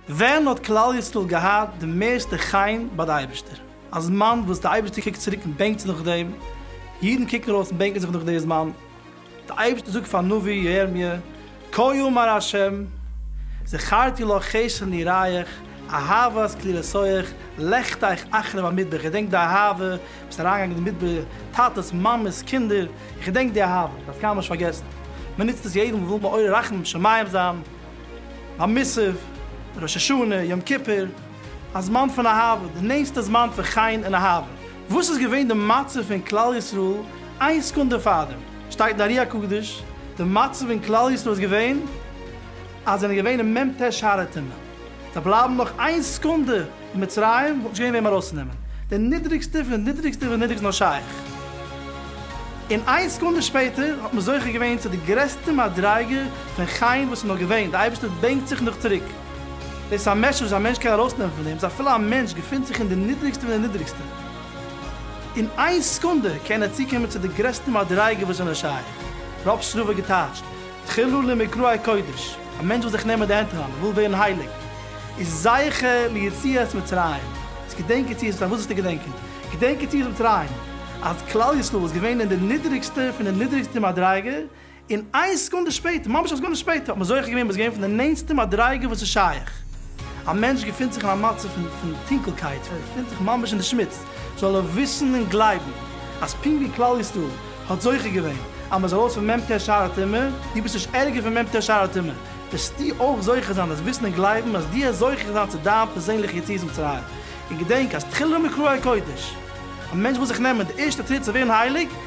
ווען האט כלל ישראל געהאט די מערסטע חן ביי די אייבערשטער? א זמן וואס די אייבערשטער קוקט צוריק און בענקט זיך נאך דעם, אידן קוקן ארויס און בענקען זיך נאך די זמן. דער אייבערשטער זאגט פארן נביא ירמיה, כה יאמר ה', זכרתי לך חסרון יראיך, אהבת כלירסאיך, לכת איך אחרי במדבר, איך געדענק די אהבה, ביסט אריינגעגאנגען אין די מדבר, טאטעס, מאמעס, קינדער, איך געדענק די אהבה, איך דארף קיינמאל נישט פארגעסן. מען נוצט עס יעדן וואס וויל מעורר רחמים שמים זיין, ביי מוסף, ראש השנה, יום כיפור, א זמן פון אהבה, די נענסטע זמן פון חן און אהבה. וואס איז געווען די מצב פון כלל ישראל איין סעקונדע פארדעם? שטייט אין ארי הקדוש, די מצב אין כלל ישראל איז געווען אז זיי זענען געווען אין מ ט שער הטומאה, זיי בלייבן נאך איין סעקונדע אין מצרים וואלט נישט געווען וועם ארויסצונעמען, די נידריגסטע פון די נידריגסטע פון די נידריגסטע נאר שייך, און איין סעקונדע שפעטער האט מען זוכה געווען צו די גרעסטע מדריגה פון חן וואס איז נאר געווען, די אייבערשטער בענקט זיך נאך צוריק. דאס איז א מעשה'ס וואס א מענטש קען ארויסנעמען פון דעם, סא אפילו א מענטש געפינט זיך אין די נידריגסטע פון די נידריגסטע, אין איין סעקונדע קען ער צוקומען צו די גרעסטע מדריגה וואס איז נאר שייך. רב שרובער געטייטשט, תחילו למקראי קודש, א מענטש וויל זיך נעמען די הענט אריין, ער וויל ווערן הייליג, איז זכה ליציאת מצרים, איז געדענק יציאת מצרים, וואס זאלסטו געדענקען? געדענק יציאת מצרים, אז כלל ישראל איז געווען אין די נידריגסטע פון די נידריגסטע מדריגה, און איין סעקונדע שפעטער, ממש א סעקונדע שפעטער, האט מען זוכה געווען ביז געווען פון די נענטסטע מדריגה וואס איז שייך. א מענטש געפינט זיך אין א מצב פון פון טונקלקייט, פון ער געפינט זיך ממש אין די שמוץ, זאל ער וויסן און גלייבן, אז פונקט ווי כלל ישראל האט זוכה געווען אז מען איז ארויס פון מ ט שער הטומאה, דו ביסט נישט ערגער פון מ ט שער הטומאה, וועסטו אויך זוכה זיין אז וויסן און גלייבן אז דו העסט זוכה זיין צו דיין פערזענליכע יציאת מצרים. און געדענק אז תחילה מקראי קודש. א מענטש וויל זיך נעמען די ערשטע טריט צו ווערן הייליג,